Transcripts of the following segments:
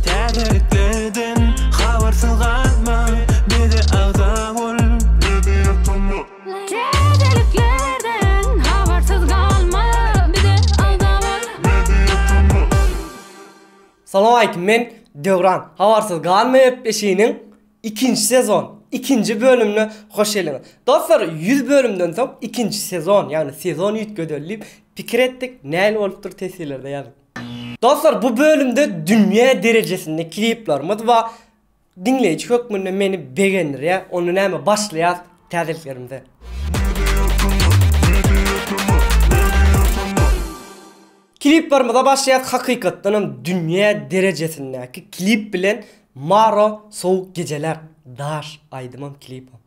Täzeliklerden habarsyz galma, bize agza bol. Täzeliklerden habarsyz galma, bize agza bol. Salowmaleýkim men Döwran Habarsyz galma gepleşiginiň ikinji sezon ikinji bölümine hoş geldiňiz. Dostlar ýüz bölümden soň ikinji sezon ýagny sezon üýtgedeldi diýip pikir etdik nähili bolupdyr teswirlerde ýazyň. Dostlar bu bölümde dünýä derejesinde kliplerimiz bar. Diňleýji hökmünde meni begendirýä. Onda näme başlaýas täzeliklerimize. Kliplerimize başlaýas hakykatdanam dünýä derejesindäki klip bilen Maro sowuk gejeler daş aýdymam klipam.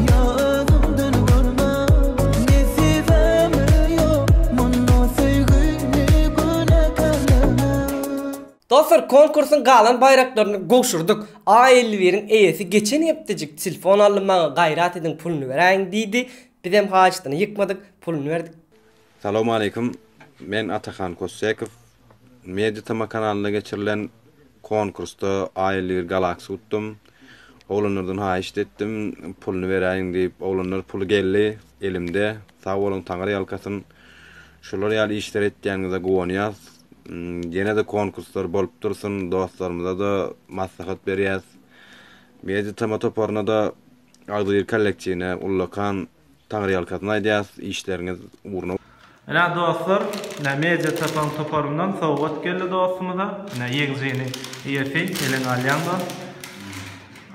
Ýanymdan görmäň, nesibem ýok mundan söýgini günäkärlemäň. Dostlar konkursyň galan baýraklaryny gowşurdyk. A elli biriň eýesi geçen hepdejik telefon aldy maňa gaýrat ediň puluny beräýiň diýdi. Bizem haýyşdyny ýykmadyk puluny berdik. Salowmaleýkim. Men Atahan Kossekow. Media tm kanalynda geçirilen konkursda A elli bir Galaxy utdum. Oglanlardan haýyşt etdim, puluny beräýiň diýip. Oglanlar puly geldi elimde. Sag boluň, taňyrýalkasyn. Şular ýaly işler etýäniňize guwanýas. Ýene-de konkurslar bolup dursun. Dostlarymyza-da maslahat berýäs. Media tm toparyna-da, Agzybir kollektiwine ullakan Taňryýalkasyn aýdýas işleriňiz ugruna. Ine dostlar ine media tapan toparyndan sowgat geldi dostumyza ine ýeňjini eýesi eliňe alýaň dost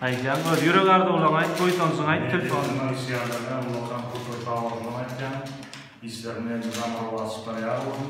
aýdýaň öz ýürek arzuwlaň aýt buýsanjyňy aýt telefon Media tapan işleýänlerine ullakan köp köp sag bolsunlar aýtýan işlerinde hem mydama rowaçlyklar ýar bolsun.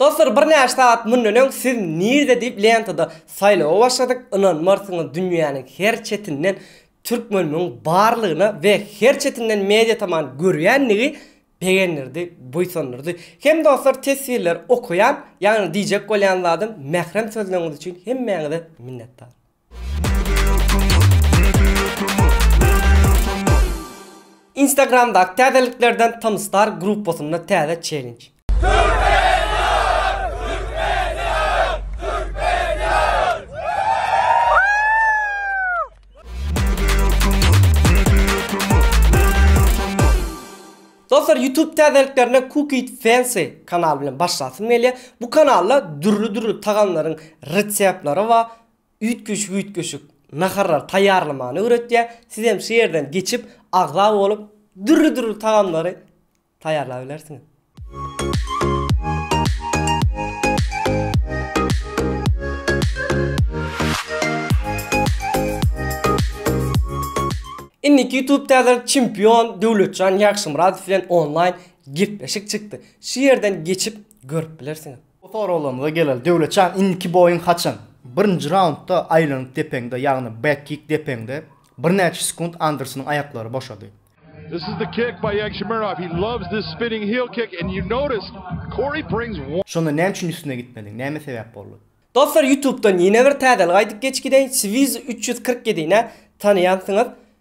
Dostlar birnäçe sagat mundan öň siz nirde diýip lentada saýlawa başladyk ynanmarsyňyz dünýäniň her çetinden türkmenimiň barlygyna we her çetinden media taman görýändigi begendirdi buýsandyrdy. Hem dostlar teswirleri okaýan ýagny diýjek bolýan zadym mährem sözleriňiz üçin hemmäňize minnetdar. Instagramdaky täzeliklerden Tymstar gruppasynda täze çellenj. Dostlar YouTube täzeliklerine Cook it fancy kanal bilen başlasym gelýär. Bu kanalda dürli dürli tagamlaryň reseptleri bar. üýtgeşik-üýtgeşik naharlary taýýarlamany öwretýär. Sizem şu ýerden geçip, agza bolup, dürli-dürli tagamlary taýýarlap bilersiňiz. Indiki YouTube täzelik çempion Döwletjan Ýagşymyradow bilen onlaýn gepleşik çykdy. Şu ýerden geçip görüp bilersiňiz. Bu soraglarymyza geleli Döwletjan indiki boýuň haçan? Birinji raundda aýlanyp depeňde ýagny back kick depeňde birnäçe sekunt Andersonyň aýaklary boşady. This is the kick by Yagshimirov he loves this spinning heel kick and you notice Cory brings one. Şonda näme üçin üstüne gitmediň? Näme sebäp boldy? Dostlar ýutubdan ýene bir täzelik aýdyp geçgideýin Swizy üç ýüz kyrk ýedi nä tanaýansyňyz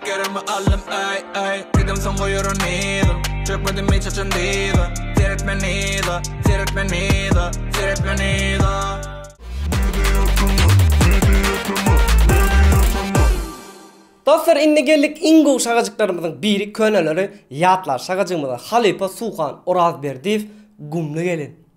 Gerimi aldym eý eý Diýdim soň goýar onyda Çökmedim hiç haçan dyza Seretme nyza Seretme nyza Seretme nyza. Dostlar indi geldik iň gowy şagajyklarymyzyň biri köneleri ýatlar şagajygymyza halypa Suhan Orazberdiýew Gumly gelin.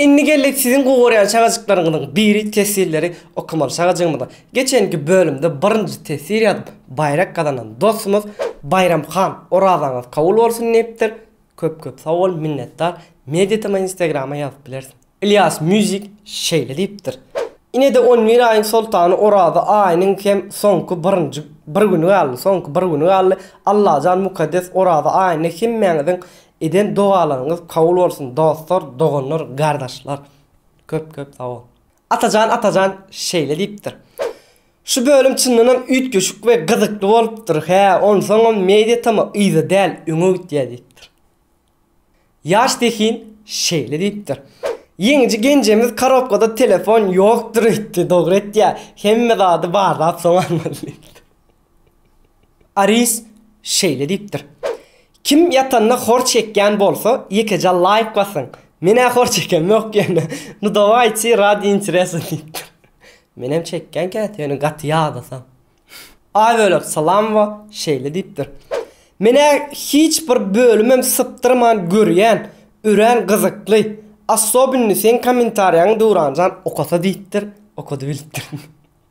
Indi geldik siziň gugarýan çagajyklaryňyzyň biri teswirleri okamaly çagajygymyza. Geçenki bölümde birinji teswir ýazyp baýrak gazanan dostumyz Baýramhan orazaňyz kabul bolsun diýipdir. Köp köp sag bol minnetdar. Media tm instagrama ýazyp bilersiň. Ilias music şeýle diýipdir. Inede on bir aýyň soltany oraza aýynyň hem soňky birinji bir güni galdy soňky bir güni galdy Allajan mukaddes oraza aýynda hemmäňiziň Eden dogalaryňyz kabul bolsun dostlar doganlar gardaşlar köp köp sag bol. Atajan Atajan şeýle diýipdir. Şu bölüm çyndanam üýtgeşik we gyzykly bolupdyr hä onsoňam media tama yza däl öňe gitýä diýipdir. Ýaş zehin şeýle diýipdir. Ýeňiji genjemiz karobkada telefon ýokdur öýtdi dogry etýä hemme zady barlap soň almaly diýipdir. Aris şeýle diýipdir. Kim ýatanda hor çekýän bolsa ýekeje laýk basyň. Menä hor çekem ýok ýöne nu dawayçi radi interesa diýipdir. Menem çekýän käte ýöne gaty ýadasam. A bölek salamowa şeýle diýipdir. Menä hiç bir bölümem sypdyrman görýän örän gyzykly assobinno seň kommentariýaňy Döwranjan okasa diýipdir okady bilipdir.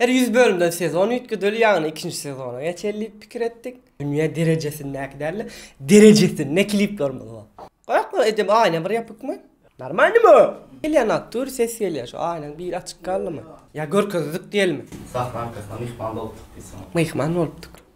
Her ýüz bölümden sezon üýtgedeli, ýagny ikinji sezona geçeli diýip pikir etdik. Dünýä derejesindäki däl-de, derejesinde kliplerimiz bar. Goýak bir edil aýna bir ýapykmy? Normalnymy? Gelýän aktyr ses gelýär şu aýnaň biri açyk galdymy? Ýa görkezdik diýelimi? Sahna arkasyna myhman bolupdyk diýseň. Myhman bolupdyk.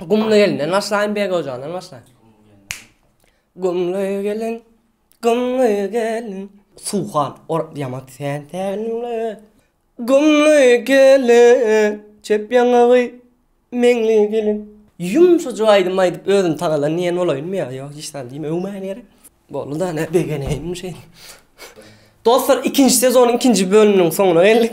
Gumly gelinden başlaýyn, Beg ojagydan başlaýyn. Gumly gelin, gumly gelin. Suhan, or ýaman sen tälimli. Gumly gelin, çep ýaňagy meňli gelin. Ýumşajyk aýdym aýdyp özümi tagalan diýen bolaýynmy ýa ýok hiç zat diýme öwmäýen ýeri. Boldy da ne begeneýin şeýle. Dostlar ikinji sezonyň ikinji bölüminiň soňuna geldik.